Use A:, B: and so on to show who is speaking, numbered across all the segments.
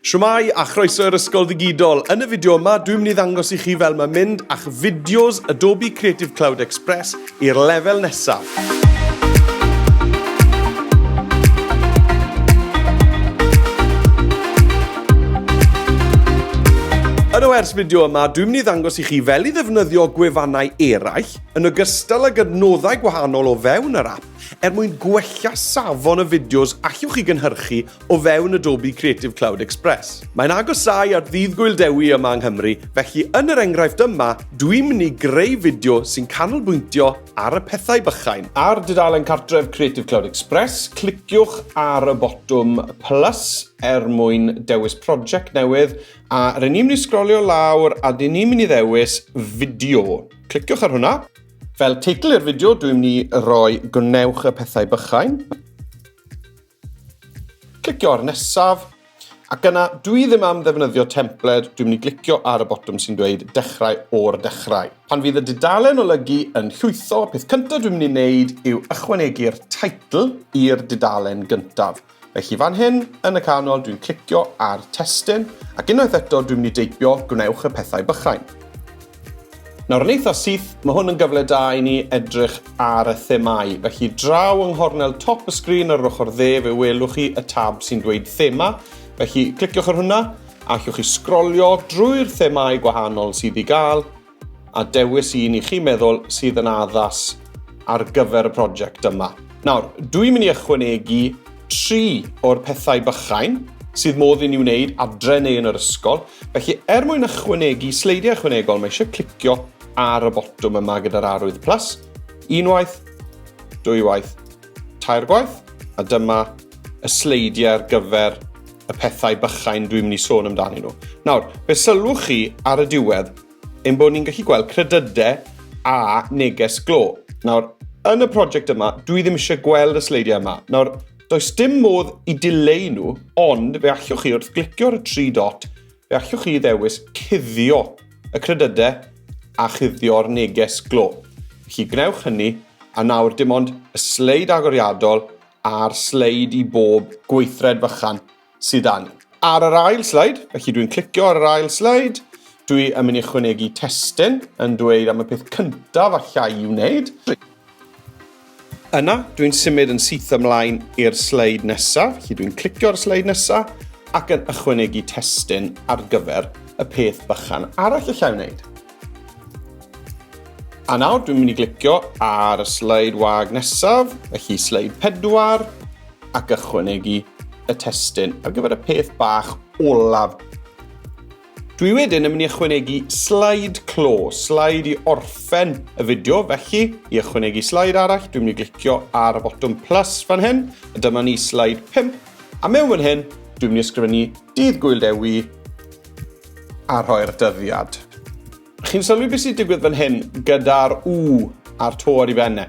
A: Shwmae a chroeso i'r Ysgol Ddigidol. Yn y fideo yma, dwi'n mynd i ddangos i chi fel mae mynd a'ch fideos Adobe Creative Cloud Express i'r lefel nesaf. Yn o ers fideo yma, dwi'n mynd i ddangos i chi fel i ddefnyddio gwefannau eraill, yn ogystal ag adnoddau gwahanol o fewn yr app, er mwyn gwella safon y fideos allwch chi gynhyrchu o fewn Adobe Creative Cloud Express. Mae'n agosáu at ddydd Gwyl Dewi yma yng Nghymru, felly yn yr enghraifft yma, dwi'n mynd i greu fideo sy'n canolbwyntio ar y pethau bychain. Ar dudalen cartref Creative Cloud Express, cliciwch ar y botwm plus er mwyn dewis prosiect newydd, a rydyn ni'n mynd i sgrolio lawr a dyn ni'n mynd i ddewis fideo. Cliciwch ar hwnna. Fel teitl i'r fideo, dwi'n mynd i roi gwnewch y pethau bychain. Clicio ar nesaf, ac yna dwi ddim am ddefnyddio templed, dwi'n mynd i glicio ar y botwm sy'n dweud dechrau o'r dechrau. Pan fydd y dudalen olygu yn llwytho, y peth cyntaf dwi'n mynd i wneud yw ychwanegu'r teitl i'r dudalen gyntaf. Felly fan hyn, yn y canol, dwi'n clicio ar testun, ac unwaith eto dwi'n mynd i deipio gwnewch y pethau bychain. Nawr yn eitha syth, mae hwn yn gyfle da i ni edrych ar y themau. Felly draw yng nghornel top y sgrin ar yr ochr dde fe welwch chi y tab sy'n dweud thema. Felly cliciwch ar hwnna a allwch chi sgrolio drwy'r themau gwahanol sydd i gael a dewis un i chi meddwl sydd yn addas ar gyfer y prosiect yma. Nawr, dwi'n mynd i ychwanegu tri o'r pethau bychain sydd modd i ni wneud adre neu yn yr ysgol. Felly, er mwyn ychwanegu sleidiau ychwanegol, mae eisiau clicio ar y botwm yma gyda'r arwydd plus, unwaith, dwywaith, tair gwaith, a dyma y sleidiau ar gyfer y pethau bychain dwi'n mynd i sôn amdanyn nhw. Nawr, fe sylwch chi ar y diwedd, Ein bod ni'n gallu gweld credydau a neges glo. Nawr, yn y prosiect yma, dwi ddim eisiau gweld y sleidiau yma. Nawr, does dim modd i dileu nhw, ond fe allwch chi wrth glicio'r tri dot, fe allwch chi ddewis cuddio y credydau a chuddio'r neges glo. Felly gwnewch hynny, a nawr dim ond y sleid agoriadol a'r sleid i bob gweithred fychan sydd dan. Ar yr ail slide, felly dwi'n clicio ar yr ail slide, dwi yn mynd i chwynegu testyn yn dweud am y peth cyntaf allai i'w wneud. Yna, dwi'n symud yn syth ymlaen i'r sleid nesaf, felly dwi'n clicio'r sleid nesaf ac yn ychwanegu testyn ar gyfer y peth bychan arall allai wneud. A nawr dwi'n mynd i glicio ar y sleid wag nesaf, felly sleid pedwar, ac ychwanegu y testun ar gyfer y peth bach olaf. Dwi wedyn yn mynd i ychwanegu slide clo, slide i orffen y fideo, felly i ychwanegu slide arall, dwi'n mynd i glicio ar y botwm plus fan hyn, a dyma ni slide 5, a mewn fan hyn, dwi'n mynd i ysgrifennu dydd gwyl dewi a rhoi'r dyddiad. Chi'n sylwi beth sy'n digwydd fan hyn gyda'r u a'r to ar ei fenne.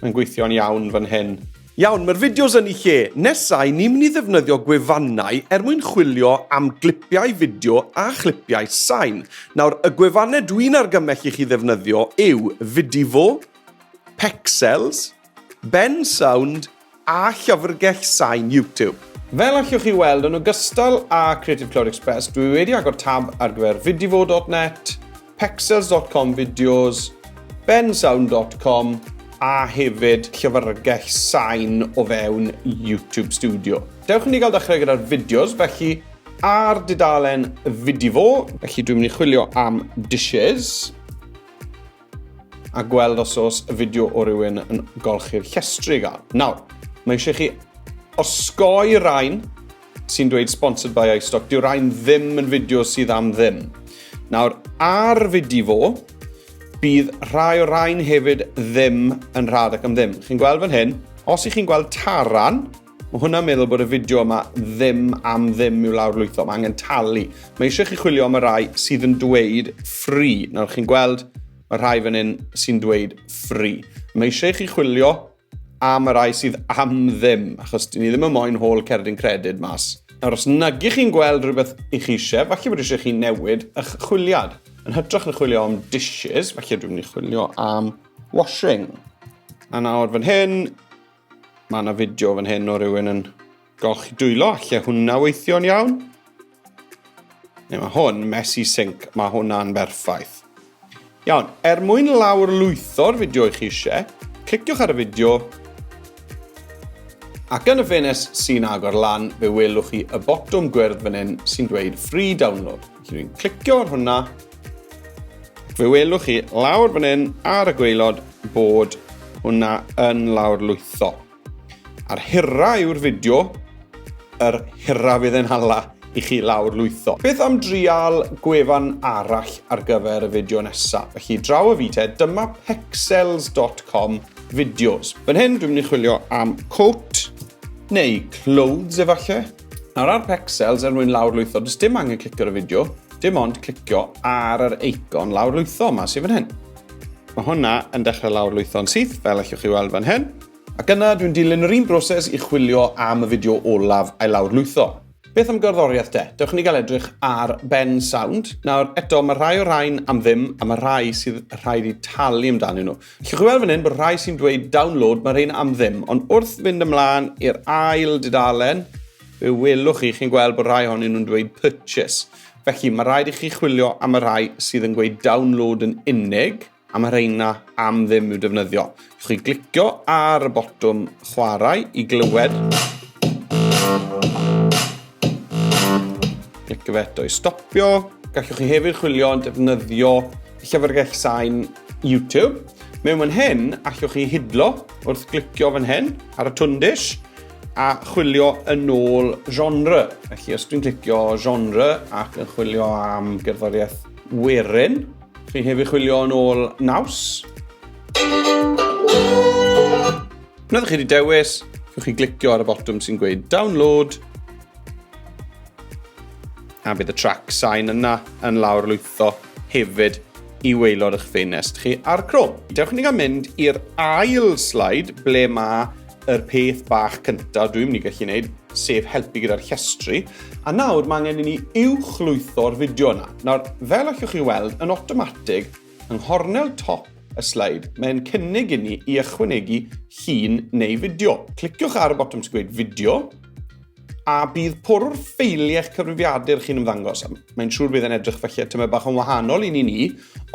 A: Mae'n gweithio'n iawn fan hyn. Iawn, mae'r fideos yn i lle. Nesa, i ni'n mynd i ddefnyddio gwefannau er mwyn chwilio am glipiau fideo a chlipiau sain. Nawr, y gwefannau dwi'n argymell i chi ddefnyddio yw Vidivo, Pexels, Bensound a llyfrgell sain YouTube. Fel allwch chi weld, yn ogystal â Creative Cloud Express, dwi wedi agor tab ar gyfer vidivo.net, pexels.com videos, bensound.com a hefyd llyfrgell sain o fewn YouTube Studio. Dewch i ni gael dechrau gyda'r fideos, felly ar dudalen Vidivo. Felly dwi'n mynd i chwilio am dishes. a gweld os oes y fideo o rywun yn golchi'r llestri gael. Nawr, mae eisiau chi osgoi rhain sy'n dweud sponsored by iStock. Dyw rhain ddim yn fideo sydd am ddim. Nawr, ar fideo fo, bydd rhai o rhain hefyd ddim yn rhad ac am ddim. Chi'n gweld fan hyn, os ych chi'n gweld taran, Mae hwnna'n meddwl bod y fideo yma ddim am ddim i'w lawrlwytho. Mae angen talu. Mae eisiau chi chwilio am y rai sydd yn dweud free. Nawr chi'n gweld, mae rhai fan hyn sy'n dweud free. Mae eisiau chi chwilio am y rai sydd am ddim, achos dyn ni ddim yn moyn hôl cerdyn credyd mas. Nawr, os nag ych chi'n gweld rhywbeth i chi eisiau, falle bod eisiau chi newid eich chwiliad. Yn hytrach na chwilio am dishes, falle dwi'n mynd i chwilio am washing. A nawr fan hyn, Mae yna fideo fan hyn o rywun yn golchi dwylo, lle hwnna weithio'n iawn. Neu mae hwn, messy sink, mae hwnna'n berffaith. Iawn, er mwyn lawr lwytho'r fideo i chi eisiau, cliciwch ar y fideo ac yn y ffenest sy'n agor lan fe welwch chi y botwm gwyrdd fan hyn sy'n dweud Free Download. Dwi'n clicio ar hwnna. Fe welwch chi lawr fan hyn ar y gweilod bod hwnna yn lawr lwytho. A'r hyrra yw'r fideo, yr hyrra fydd e'n hala i chi lawr lwytho. Beth am drial gwefan arall ar gyfer y fideo nesaf? Felly draw y fi te, dyma pexels.com fideos. Fan hyn dwi'n mynd i chwilio am coat neu clothes efallai. Nawr ar Pexels er mwyn lawrlwytho, does dim angen clicio ar y fideo, dim ond clicio ar yr eicon lawrlwytho yma sydd fan hyn. Mae hwnna yn dechrau lawrlwytho'n syth, fel allwch chi weld fan hyn. Ac yna, dwi'n dilyn yr un broses i chwilio am y fideo olaf a'i lawrlwytho. Beth am gerddoriaeth de? Dewch i ni gael edrych ar Ben Sound. Nawr, eto, mae rhai o'r rhain am ddim, a mae rhai sydd rhaid i talu amdanyn nhw. Llwch chi weld fan hyn bod rhai sy'n dweud download, mae rhain am ddim. Ond wrth fynd ymlaen i'r ail dudalen, fe welwch chi, chi'n gweld bod rhai honyn nhw'n dweud purchase. Felly, mae rhaid i chi chwilio am y rhai sydd yn gweud download yn unig, a mae rheina am ddim i'w defnyddio. Llwch chi glicio ar y botwm chwarae i glywed. Glicio fe eto i stopio. Gallwch chi hefyd chwilio yn defnyddio Llyfrgell Sain YouTube. Mewn fan hyn, allwch chi hidlo wrth glicio fan hyn ar y tundish a chwilio yn ôl genre. Felly os dwi'n clicio genre ac yn chwilio am gerddoriaeth werin, chi'n hefyd chwilio yn ôl naws. Wnaeth chi wedi dewis, chi'n chi glicio ar y botwm sy'n gweud download a bydd y trac sain yna yn lawr lwytho hefyd i waelod eich ffenest chi ar Chrome. Dewch ni gael mynd i'r ail slide ble mae yr peth bach cyntaf dwi'n mynd i gallu gwneud, sef helpu gyda'r llestri. A nawr mae angen i ni uwchlwytho'r fideo yna. Nawr, fel allwch chi weld, yn automatig, yng nghornel top y sleid, mae'n cynnig i ni i ychwanegu llun neu fideo. Cliciwch ar y botwm sy'n gweud fideo, A bydd porwr ffeili eich cyfrifiadur chi'n ymddangos. Mae'n siŵr bydd e'n edrych felly at yma bach yn wahanol i ni ni,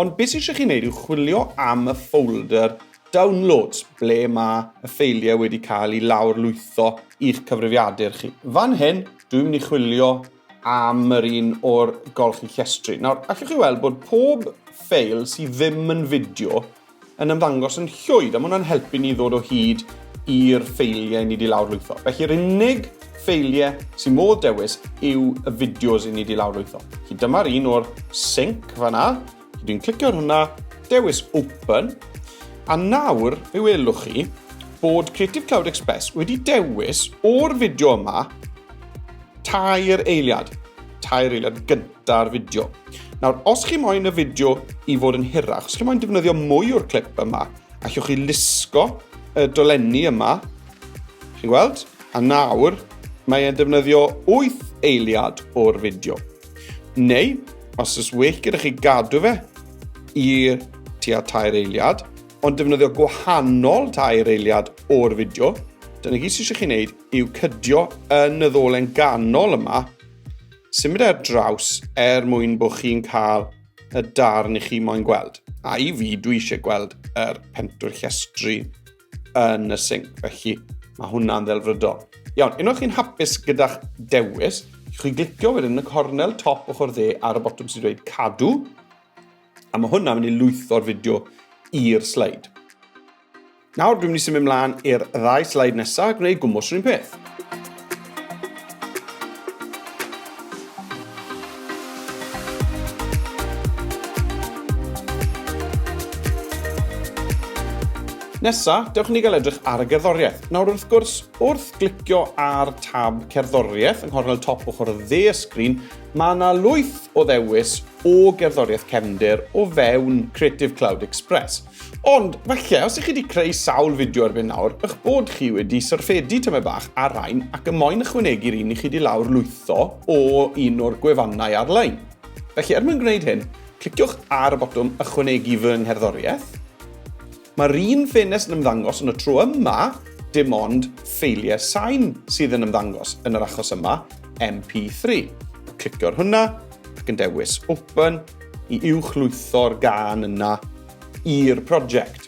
A: ond beth sy'n eisiau chi'n neud yw chwilio am y folder downloads ble mae y ffeiliau wedi cael ei lawr lwytho i'ch cyfrifiadur chi. Fan hyn, dwi'n mynd i chwilio am yr un o'r golchi llestri. Nawr, allwch chi weld bod pob ffeil sydd ddim yn fideo yn ymddangos yn llwyd, a mae hwnna'n helpu ni ddod o hyd i'r ffeiliau ni di lawrlwytho. Felly yr unig ffeiliau sy'n modd dewis yw y fideos i ni di lawrlwytho. Felly dyma'r un o'r sync fanna. Felly dwi'n clicio ar hwnna, dewis open, a nawr fe welwch chi bod Creative Cloud Express wedi dewis o'r fideo yma tair eiliad, tair eiliad gyntaf da'r fideo. Nawr, os chi moyn y fideo i fod yn hirach, os chi moyn defnyddio mwy o'r clip yma, allwch chi lusgo y dolenni yma, chi'n gweld? A nawr, mae e'n defnyddio 8 eiliad o'r fideo. Neu, os ys well gyda chi gadw fe i tua tair eiliad, ond defnyddio gwahanol tair eiliad o'r fideo, dyna gyd sydd eisiau chi wneud yw cydio yn y ddolen ganol yma symud ar draws er mwyn bod chi'n cael y darn i chi moyn gweld. A i fi, dwi eisiau gweld yr pentwyr llestri yn y sync, felly mae hwnna'n ddelfrydol. Iawn, unwaith chi'n hapus gyda'ch dewis, chi glicio wedyn yn y cornel top ochr dde ar y botwm sy'n dweud cadw, a mae hwnna'n mynd i lwytho'r fideo i'r sleid. Nawr, dwi'n mynd i symud mlaen i'r ddau slide nesaf a gwneud gwmwys rhywun peth. Nesa, dewch ni gael edrych ar y gerddoriaeth. Nawr wrth gwrs, wrth glicio ar tab cerddoriaeth yng nghornel top ochr y dde y sgrin, mae yna lwyth o ddewis o gerddoriaeth cefndir o fewn Creative Cloud Express. Ond, falle, os ych chi wedi creu sawl fideo erbyn nawr, ych bod chi wedi syrffedu tymed bach ar rain ac y moyn ychwanegu'r un i chi wedi lawr lwytho o un o'r gwefannau ar-lein. Felly, er mwyn gwneud hyn, cliciwch ar y botwm Ychwanegu fy ngherddoriaeth. Mae'r un ffenest yn ymddangos yn y tro yma, dim ond ffeiliau sain sydd yn ymddangos, yn yr achos yma, MP3. Clicio'r hwnna, ac yn dewis Open, i uwchlwytho'r gân yna i'r project.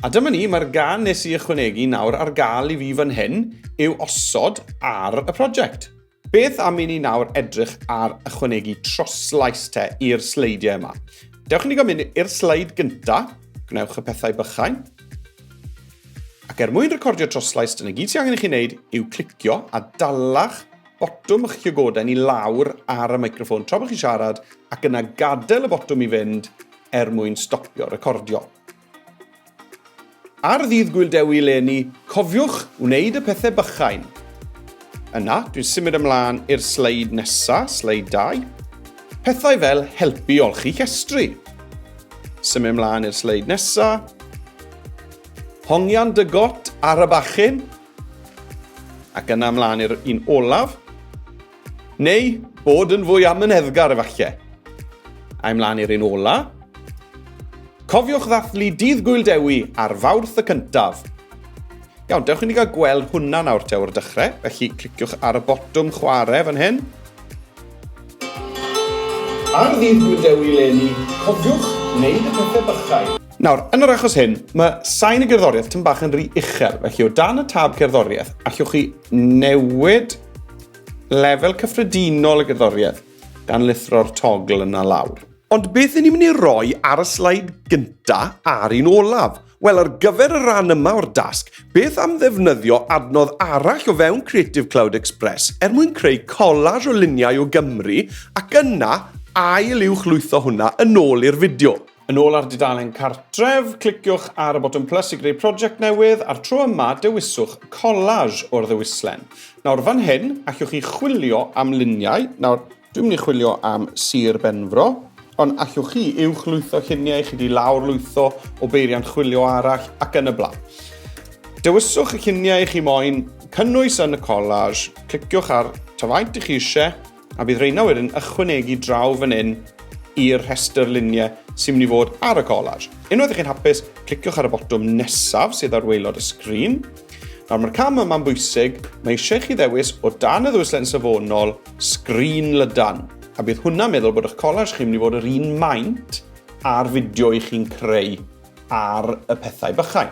A: A dyma ni, mae'r gân nes i ychwanegu nawr ar gael i fi fan hyn yw osod ar y project. Beth am i ni nawr edrych ar ychwanegu troslais te i'r sleidiau yma? Dewch i ni gael mynd i'r sleid gynta, gwnewch y pethau bychain. Ac er mwyn recordio troslais, dyna gyd sy'n angen i chi wneud yw clicio a dalach botwm eich llygoden i lawr ar y microffon tra bod chi'n siarad ac yna gadael y botwm i fynd er mwyn stopio recordio. Ar ddydd Gwyl Dewi eleni, cofiwch wneud y pethau bychain. Yna, dwi'n symud ymlaen i'r sleid nesa, sleid 2. Pethau fel helpu i olchi llestri. Symud ymlaen i'r sleid nesa. Hongian dy got ar y bachyn. Ac yna ymlaen i'r un olaf. Neu bod yn fwy amyneddgar efallai. A ymlaen i'r un ola. Cofiwch ddathlu dydd Gwyl Dewi ar fawrth y cyntaf. Iawn, dewch i ni gael gweld hwnna nawr te o'r dechrau, felly cliciwch ar y botwm chwarae fan hyn. Ar ddydd Gwyl Dewi leni, cofiwch wneud y pethau bychau. Nawr, yn yr achos hyn, mae sain y gerddoriaeth tyn bach yn rhy uchel, felly o dan y tab cerddoriaeth, allwch chi newid lefel cyffredinol y gerddoriaeth gan lithro'r togl yna lawr. Ond beth yn ni'n mynd i roi ar y slaid gynta a'r un olaf? Wel, ar gyfer y rhan yma o'r dasg, beth am ddefnyddio adnodd arall o fewn Creative Cloud Express er mwyn creu collage o luniau o Gymru ac yna ail uwch lwytho hwnna yn ôl i'r fideo. Yn ôl ar dudalen cartref, cliciwch ar y botwm plus i greu prosiect newydd a'r tro yma dewiswch collage o'r ddewislen. Nawr fan hyn, allwch chi chwilio am luniau. Nawr, dwi'n mynd i chwilio am Sir Benfro, ond allwch chi uwch lwytho lluniau, chi di lawr lwytho o beiriant chwilio arall ac yn y blaen. Dewiswch y lluniau chi moyn cynnwys yn y collage, cliciwch ar ta faint i chi eisiau A bydd rheina wedyn ychwanegu draw fan hyn i'r rhestr luniau sy'n mynd i fod ar y collage. Unwaith i chi'n hapus, cliciwch ar y botwm nesaf sydd ar waelod y sgrin. Nawr mae'r cam yma'n bwysig, mae eisiau chi ddewis o dan y ddwyslen safonol sgrin lydan, a bydd hwnna'n meddwl bod eich collage chi'n mynd i fod yr un maint a'r fideo i chi'n creu ar y pethau bychain.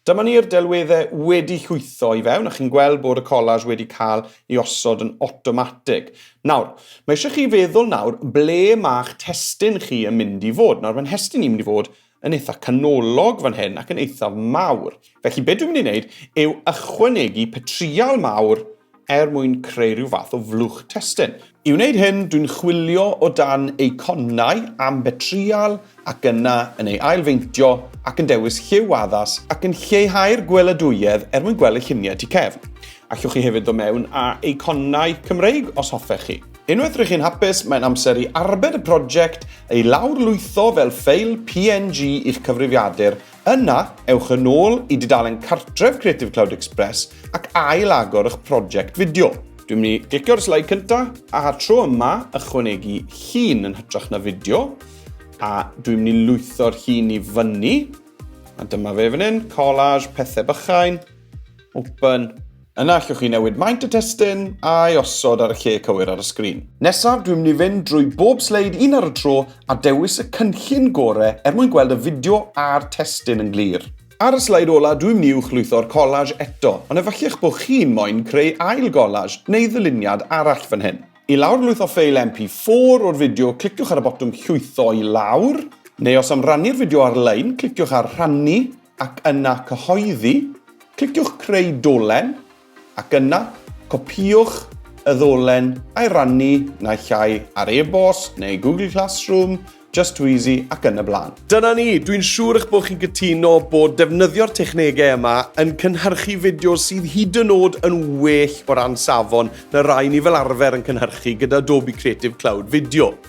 A: Dyma ni'r delweddau wedi llwytho i fewn a chi'n gweld bod y collage wedi cael ei osod yn awtomatig. Nawr, mae eisiau chi feddwl nawr ble mae'ch testun chi yn mynd i fod. Nawr, mae nghestun i'n mynd i fod yn eitha canolog fan hyn ac yn eithaf mawr. Felly, be dwi'n mynd i wneud yw ychwanegu petrial mawr er mwyn creu rhyw fath o flwch testun. I wneud hyn, dwi'n chwilio o dan eiconau am betrial ac yna yn ei ailfeintio ac yn dewis lliw addas ac yn lleihau'r gweladwyedd er mwyn gweld y lluniau tu cefn. Allwch chi hefyd ddod mewn â eiconau Cymreig os hoffech chi. Unwaith rydych chi'n hapus, mae'n amser i arbed y prosiect, ei lawr lwytho fel ffeil PNG i'ch cyfrifiadur Yna, ewch yn ôl i dudalen cartref Creative Cloud Express ac ail-agor eich prosiect fideo. Dwi'n mynd i glicio'r sleid cyntaf, a tro yma ychwanegu llun yn hytrach na fideo, a dwi'n mynd i lwytho'r llun i fyny, a dyma fe fan hyn, collage, pethau bychain, open, Yna allwch chi newid maint y testun a'i osod ar y lle cywir ar y sgrin. Nesaf, dwi'n mynd i fynd drwy bob sleid un ar y tro a dewis y cynllun gore er mwyn gweld y fideo a'r testun yn glir. Ar y sleid ola, dwi'n mynd i'w chlwytho'r collage eto, ond efallech bod chi'n moyn creu ail gollage neu ddyluniad arall fan hyn. I lawrlwytho ffeil MP4 o'r fideo, cliciwch ar y botwm llwytho i lawr, neu os am rannu'r fideo ar-lein, cliciwch ar rhannu, ac yna Cyhoeddi, cliciwch Creu Dolen, ac yna copïwch y ddolen a'i rannu naill ai ar e-bost neu Google Classroom, Just Too Easy ac yn y blaen. Dyna ni, dwi'n siŵr eich bod chi'n cytuno bod defnyddio'r technegau yma yn cynhyrchu fideos sydd hyd yn oed yn well o ran safon na rai ni fel arfer yn cynhyrchu gyda Adobe Creative Cloud Video.